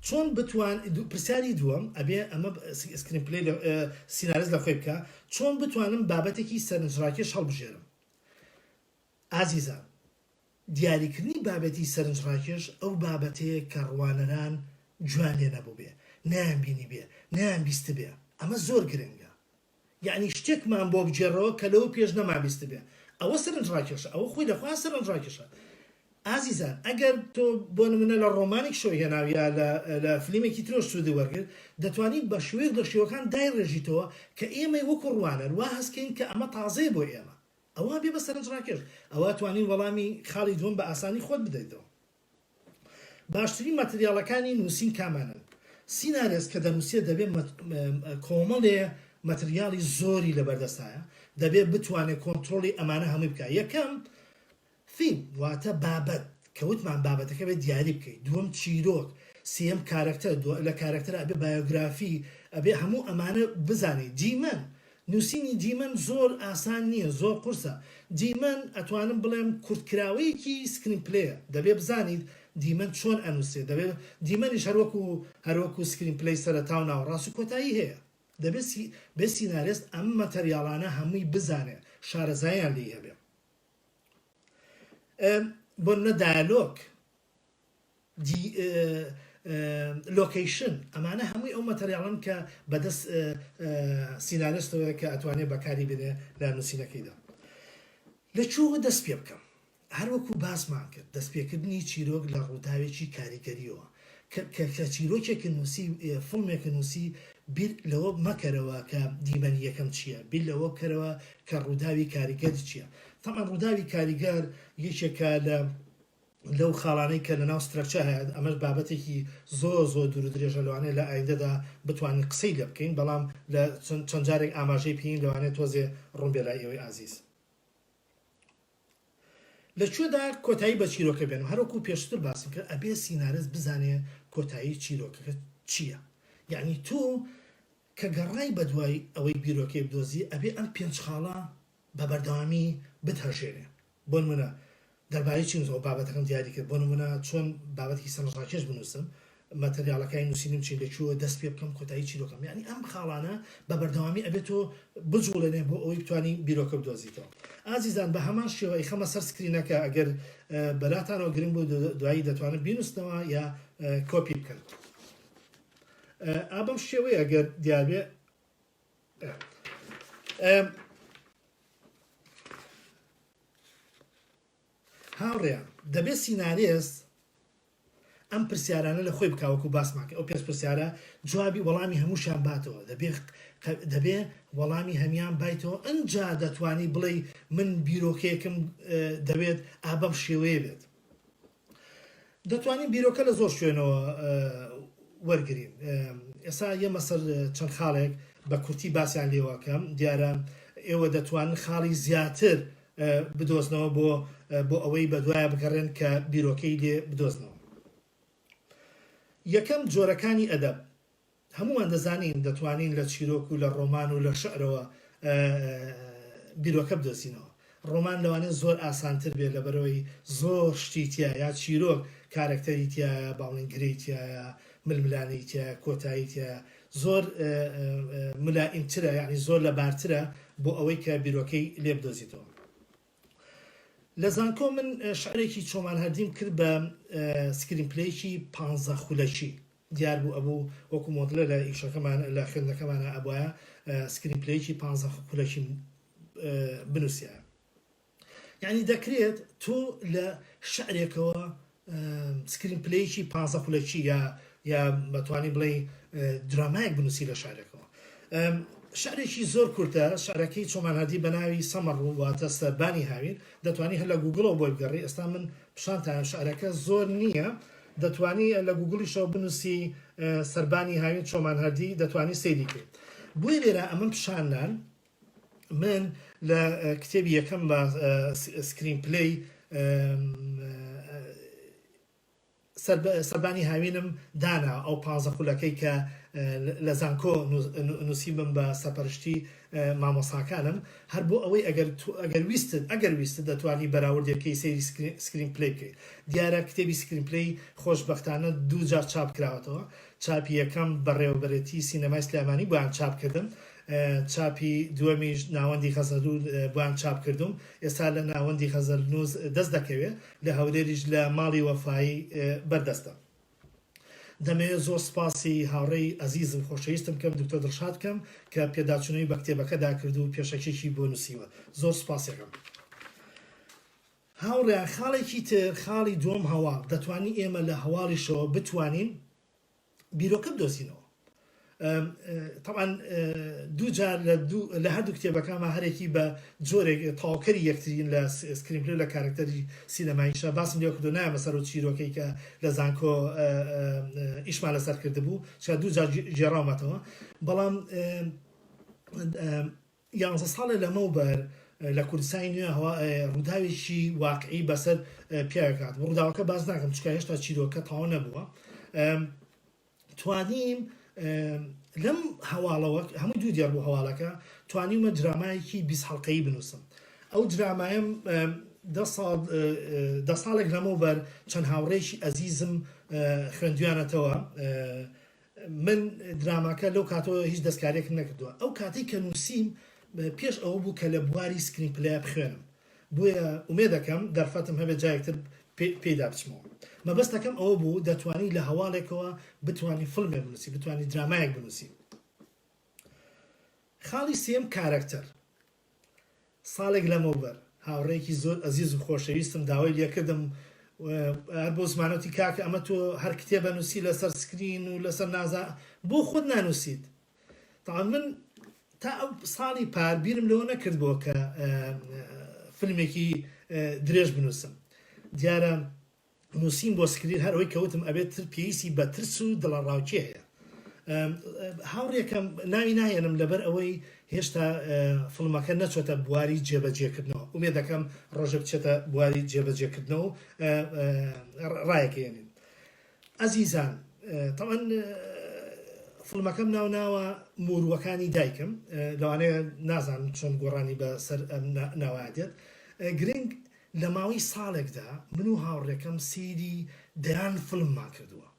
چۆن بتوان پرسیاری دووەم ئەبێ ئەمە سکرین پلی سینارز لە خۆی بکە چۆن بتوانم بابەتێکی سەرنجڕاکێش هەڵبژێرم ئازیزان، دیاریکردنی بابەتی سەرنجڕاکێش ئەو بابەتەیە کە ڕوانەران گوێیان لێ نەبووبێ، نەیانبینیبێ، نەیانبیستبێ. ئەمە زۆر گرنگە. یەعنی شتێکمان بۆ بگێڕەوە کە لەوە پێش نەمابیستبێ. ئەوە سەرنجڕاکێشە. ئەوە خۆی لە خۆیان سەرنجڕاکێشە. ئازیزان، ئەگەر تۆ بۆ نموونە لە ڕۆمانێک شۆی هێناو یا لە فلیمێکی ترۆش سوودی وەرگرت، دەتوانیت بە شێوەیەک لە شێوەکان دایڕێژیتەوە کە ئێمەی وەکوو ڕوانەر وا هەست کەین کە ئەمە تازەیە بۆ ئێمە. ئەوا بێ بە سەرنج ڕاکێش. ئەوا توانی وەڵامی خاڵی دووەم بە ئاسانی خۆت بدەیتەوە. باشترین ماتریاڵەکانی نووسین کامانەن؟ سینارێست کە دەنووسێت دەبێ کۆمەڵێ ماتریاڵی زۆری لەبەردەستایە، دەبێ بتوانێ کۆنترۆڵی ئەمانە هەمووی بکا. یەکەم، Theme، واتە بابەت، کە وتمان بابەتەکە ئەبێ دیاری بکەی، دووەم چیرۆک، سێیەم کارەکتەر، دووا لە کارەکتەرا ئەبێ بایۆگرافی، ئەبێ هەموو ئەمانە بزانی، دیمەن، نووسینی دیمەن زۆر ئاسان نییە، زۆر قورسە، دیمەن ئەتوانم بڵێم کورتکراوەیەکی سکرین پلەیە، دەبێ بزانیت دیمەن چۆن ئەنووسرێ، دەبێ دیمەنیش هەر وەکو هەر وەکو سکرین پلەی سەرەتا و ناوەڕاست و کۆتایی هەیە، دەبێ سی بێ سینارێست ئەم ماتەریاڵانە هەمووی بزانێ، شارەزاییان لێی هەبێ. بۆنمونە دایەلۆگ، لۆکەیشن ئەمانە هەمووی ئەو مەتەریاڵەن کە بەدەست سیناریۆستەوەیە کە ئەتوانێ بەکاری بێنێ لە نووسینەکەیدا لە کوێوە دەست پێ بکەم هەروەکو باسمان کرد دەستپێکردنی چیرۆک لە ڕووداوێکی کاریگەریەوە کە کە کە چیرۆکێکە نووسی فڵمێکە نووسی بیر لەوە مەکەرەوە کە دیمەنی یەکەم چییە بیر لەوە بکەرەوە کە ڕووداوی کاریگەر چییە تەبعەن ڕووداوی کاریگەر یەکێکە لە لەو خاڵانەی کە لەناو سترەکچە هەیە ئەمەش بابەتێکی زۆر زۆر دوور و درێژە لەوانەیە لە ئایندەدا بتوانین قسەی لێ بکەین بەڵام لە چەند جارێک ئاماژەی پێین لەوانەیە تۆزێ ڕوون بێ لای ئێوەی ئازیز. لە کوێدا کۆتایی بە چیرۆکە بێنم هەروەکو پێشتر باسم کرد ئەبێ سینارست بزانێ کۆتایی چیرۆکەکە چیە یەعنی تۆ کە گەڕای بە دوای ئەوەی بیرۆکەی بدۆزی ئەبێ ئەم پێنج خاڵە بە بەردەوامی بتهەژێنێ بۆ نمونە دەربارەی چین بابەتەکەم دیاری کرد بۆ نمونە چۆن بابەتێکی سەرنجڕاکێش بنوسم ماتەریاڵەکای نوسینم چین لە کوێوە دەست پێ بکەم کۆتایی چیرۆکەم یانی ئەم خاڵانە بە بەردەوامی ئەبێ تۆ بجوڵێنێ بۆ ئەوەی بتوانی بیرۆکە بدۆزیتەوە ئازیزان بە هەمان شێوە ئەیخەمە سەر سکرینەکە ئەگەر بەلاتانەوە گرنگ بوو دوایی دەتوانن بینوسنەوە یا کۆپی بکەن ئابم شێوەیە ئەگەر دیارێ هاوڕێیان دەبێت سینارێست ئەم پرسیارانە لە خۆی بکا وەکو باسمان کرد ئەو پێنج پرسیارە جوابی وەڵامی هەمووشیان باتەوە دەبێ دەبێ وەڵامی هەمیان بایتەوە ئەنجا دەتوانی بڵێی من بیرۆکەیەکم دەوێت ئا بەم شێوەیە بێت دەتوانین بیرۆکە لە زۆر شوێنەوە وەرگین ئێسا یەمە سەر چەند خاڵێک بە کورتی باسیان لێواکەم دیارە ئێوە دەتوانن خاڵی زیاتر بدۆزنەوە بۆ بۆ ئەوەی بەدوایە بگەڕێن کە بیرۆکەی دێ بدۆزنەوە یەکەم جۆرەکانی ئەدەب هەمووان دەزانین دەتوانین لە چیرۆک و لە ڕۆمان و لە شعرەوە بیرۆکە بدۆزینەوە ڕۆمان لەوانێ زۆر ئاسانتر بێت لەبەرەوەی زۆر شتی تیا یا چیرۆک کارەکتەری تایە باڵنگرەی تایە ململانەی تایە کۆتایی تایە زۆر ملائمترە یانی زۆر لەبارترە بۆ ئەوەی کە بیرۆکەی لێ بدۆزیتەوە لە زانکۆ من شعرێکی چۆمان هەردیم کرد بە سکرین پلەیەکی پانزە خولەکی دیار بوو ئەبوو وەکو مۆدلە لە ئیشەکەمان لە خوێندەکەمانە ئەبواە سکرین پلەیەکی پانزە خولەکی بنووسە یانی دەکرێت تۆ لە شعرێکەوە سکرین پلەیەکی پازە خولەکی یا یا بەتوانی بڵێ درامایەک بنووسی لە شارەکەەوە شعرێکی زۆر کورتە شعرەکەی چۆمانادی بەناوی سەمەڕ و واتە سەربانی هاوین دەتوانانی هەر لە گوگڵەوە بۆی بگەڕی ئێستا من پیشانتان شعرەکە زۆر نییە دەتوانی لە گوگڵیشەوە بنووسی سەربانی هاوین چۆمان هەردی دەتوانی سەیری کرد بۆی لێرە ئەمن پیشاننان من لە کتێبی یەکەمما سکرین پلەی سەربانی هاوینم دانا ئەو پازە خولەکەی کە لە زانکۆ نووسیبم بە سەپەرشتی مامۆساکانم هەر بۆ ئەوەی ئەگەر ویستت ئەگەر ویستت دەتوانی بەراوردێکەی سەیری سکرین پلەی بکەیت دیارە کتێبی سکرین پلەی خۆشببختانە دوو جار چاپ کراوەتەوە چاپی یەکەم بەڕێوەبەرێتی سینەمای سلێمانی بۆیان چاپ کردم چاپی دووەمیش ناوەندی غەزەلو بوان چاپ کردووم ئێستا لە ناوەندی غەزەلنووس دەست دەکەوێ لە هەولێریش لە ماڵی وەفایی بەردەستە دەمەوێ زۆر سپاسی هاوڕێی ئەزیزم خۆشەویستم بکەم دکتۆر دڵشاد کەم کە پێداچونەوەی بە کتێبەکەدا کرد و پێشەکیەکی بۆ نووسیوە زۆر سپاسێکم هاوڕێیان خاڵێکی تر خاڵی دووەم هەواڵ دەتوانین ئێمە لە هەواڵیشەوە بتوانین بیرۆکە بدۆزینەوە. تەبعەن دوو جار لە هەردوو کتێبەکانمان هەرێکی بە جۆرێک تەواوکەری یەکترین لە سکرینپلەی لە کارەکتەری سینەماییشە باسم لێ کردووە نایەمە سەر و چیرۆکەی کە لە زانکۆ ئیشمان لەسەر کردبوو چا دوو جار گێڕاومەتەوە بەڵام یانزە ساڵە لەمەوبەر لە کوردستانی نوێ هەوا ڕووداوێکی واقعی بەسەر پیاوێک هاتبوو. ڕووداوەکە باس ناکەم چونکە هێشتا چیرۆکە تەواو نەبووە. توانیم لەم هەواڵەوە هەموو دوو دێڕ بوو هەواڵەکە توانیمە درامایەکی بیست هەڵقەیی بنووسم. ئەو درامایم دە ساڵ دە ساڵێک لەمەوبەر چەند هاوڕێکی ئەزیزم خوێندویانەتەوە من دراماکە لەو کاتەوە هیچ دەستکاریەکم نەکردوە ئەو کاتەی کە نوسیم پێش ئەوە بوو کە لە بواری سکرین پلەیە بخوێنم بۆیە ئومێدەکەم دەرفەتم هەبێت جارێکتر پێیدا بچمەوە مەبەستەکەم ئەوە بوو دەتوانی لە هەواڵێکەوە بتوانی فلمێ بنوسی بتوانی درامایەک بنوسی خاڵی سێم کارەکتەر ساڵێک لەمەوبەر هاوڕێیەکی زۆر ئەزیز و خۆشەویستم داوای لێکردم و هەر بۆ زمانە وتی کاکە ئەمە تۆ هەر کتێب ئەنووسی لەسەر سکرین و لەسەر نازا بۆ خۆت نانووسیت؟ تەبعەن من تا ئەو ساڵی پار بیرم لەوە نەکردبووە کە فیلمێکی درێژ بنووسم دیارە نوسیم بۆ سکرین هەر ئەوەی کە وتم ئەبێت تر پێویستی بە ترس و دڵەڕاوکێ هەیە هاوڕێکەم ناوی ناهێنم لەبەر ئەوەی هێشتا فڵمەکە نەچۆتە بواری جێبەجێکردنەوە ئومێ دەکەم ڕۆژە بچێتە بواری جێبەجێکردنەوە و ڕایەکێنین ئەزیزان تەوان فڵمەکەم ناو ناوە موروەکانی دایکم لەوانەیە نازانم چۆن گۆڕانی بە سەر ناوادێت گرنگ لە ماوەی ساڵێکدا من و هاوڕێکەم سەیری دەیان فڵممان کردووە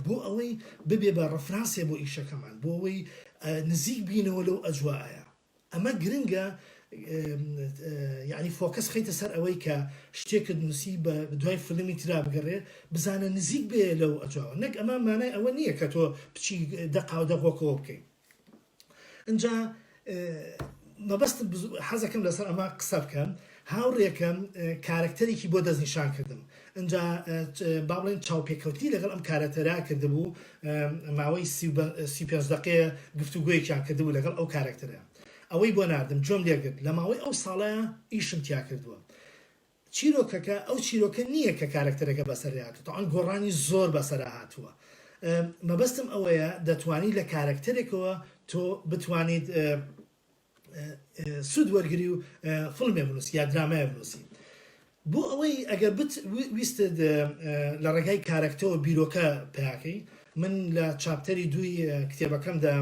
بۆ ئەوەی ببێ بە ڕفرانسێ بۆ ئیشەکەمان بۆ ئەوەی نزیک بینەوە لەو ئەجوائەیا ئەمە گرنگە یانی فۆکەس خەیتە سەر ئەوەی کە شتێکت نووسی بە دوای فلمی ترا بگەڕێ بزانە نزیک بێ لەو ئەجوائەوە نەک ئەمە مانای ئەوە نییە کە تۆ بچی دەقاو دەغۆکەوە بکەیت ئنجا مەبەستم حەزەکەم لەسەر ئەمە قسە بکەم هاوڕێکەم کارەکتەرێکی بۆ دەستنیشان کردم ئنجا با بڵێن چاوپێکەوتنی لەگەڵ ئەم کارەتەرا کردبوو ماوەی سی پێنج دقەیە گفتوگویەکیان کردبوو لەگەڵ ئەو کارەکتەرە ئەوەی بۆ ناردم جۆم لێگرت لە ماوەی ئەو ساڵە ئیشم تیا کردووە چیرۆکەکە ئەو چیرۆکە نییە کە کارەکتەرەکە بەسەری هاتووە تەوان گۆڕانی زۆر بەسەرا هاتووە مەبەستم ئەوەیە دەتوانی لە کارەکتەرێکەوە تۆ بتوانیت سوود وەرگری و فڵمێ بنووسی یا درامای بنووسی بۆ ئەوەی ئەگەر ویست لە ڕێگای کارەکتەوە بیرۆکە پیاکەی من لە چاپتەری دووی کتێبەکەمدا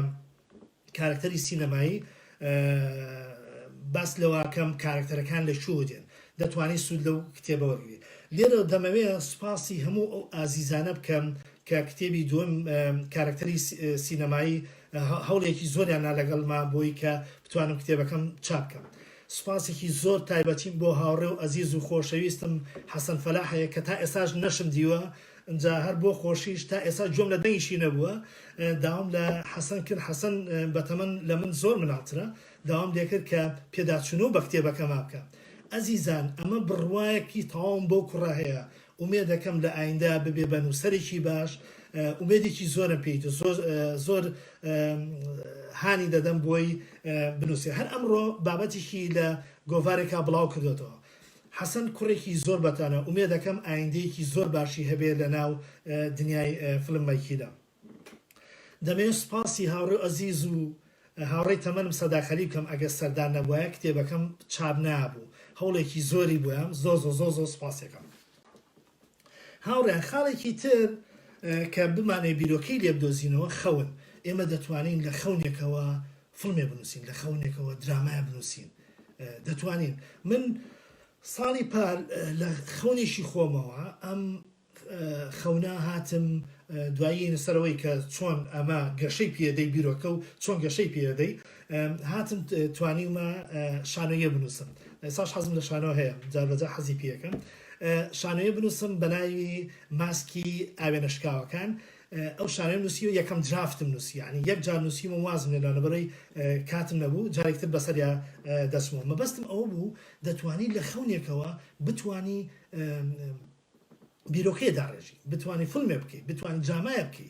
کارەکتەری سینەمایی، باس لەوەکەم کارەکتەرەکان لە کوێوە دێن، دەتوانی سوود لەو کتێبە وەرگری. لێرەوە دەمەوێ سوپاسی هەموو ئەو ئازیزانە بکەم کە کتێبی دووەم کارەکتەری سینەمایی هەوڵێکی زۆریان نا لەگەڵما بۆی کە بتوانم کتێبەکەم چاپ کەم. سوپاسێکی زۆر تایبەتیم بۆ هاوڕێ و ئەزیز و خۆشەویستم حەسەن فەلاح هەیە کە تا ئێستاش نەشم دیوە، ئنجا هەر بۆ خۆشیش تا ئێستا گوێم لە دەنگیشی نەبووە داوام لە حەسەن کرد حەسەن بە تەمەن لە من زۆر مناڵترە داوام لێکرد کە پێداچوونەوە بە کتێبەکەما بکا ئەزیزان ئەمە بڕوایەکی تەواوم بەو کوڕە هەیە ئومێدەکەم لە ئایندە ببێ بە نووسەرێکی باش ئومێدێکی زۆرم پێی دو زۆر زۆر هانی دەدەم بۆی بنووسێ هەر ئەمڕۆ بابەتیشی لە گۆڤارێکا بڵاو کردۆتەوە حەسەن کوڕێکی زۆر بەتوانە ئومێدەکەم ئایندەیەکی زۆر باشی هەبێ لەناو دنیای فلم مەیکیدا دەمەوێ سوپاسی هاوڕێو ئەزیز و هاوڕێی تەمەنم سەدا خەلیل بکەم ئەگەر سەردار نەبوایە کتێبەکەم چاپ نابوو هەوڵێکی زۆری بویام زۆزۆزۆزۆ سوپاسیەکەم. هاوڕێیان خاڵێکی تر کە بمانەوێت بیرۆکەی لێ بدۆزینەوە خەون. ئێمە دەتوانین لە خەونێکەوە فڵمێ بنووسین، لە خەونێکەوە درامایە بنووسین. دەتوانین. من ساڵی پار لە خەونێکی خۆمەوە ئەم خەونە هاتم دوایین سەرەوەی کە چۆن ئەمە گەشەی پێدەی بیرۆکە و چۆن گەشەی پێدەی هاتم توانیمە شانۆیە بنووسم ساش حەزم لە شانۆ هەیە جاربەجا حەزی پێەکەم شانۆیە بنووسم بەناوی ماسکی ئاوێنە شکاوەکان ئەو شانۆیەم نووسیوە یەکەم درافتم نووسی یانی یەک جار نووسیم و وازم لێنا لەبەرەی کاتم نەبوو جارێک تر بەسەریا دەچمەوە مەبەستم ئەوە بوو دەتوانی لە خەونێکەوە بتانی بیرۆکەیە داڕێژی بتانی فلمێ بکەی بتانی درامایە بکەی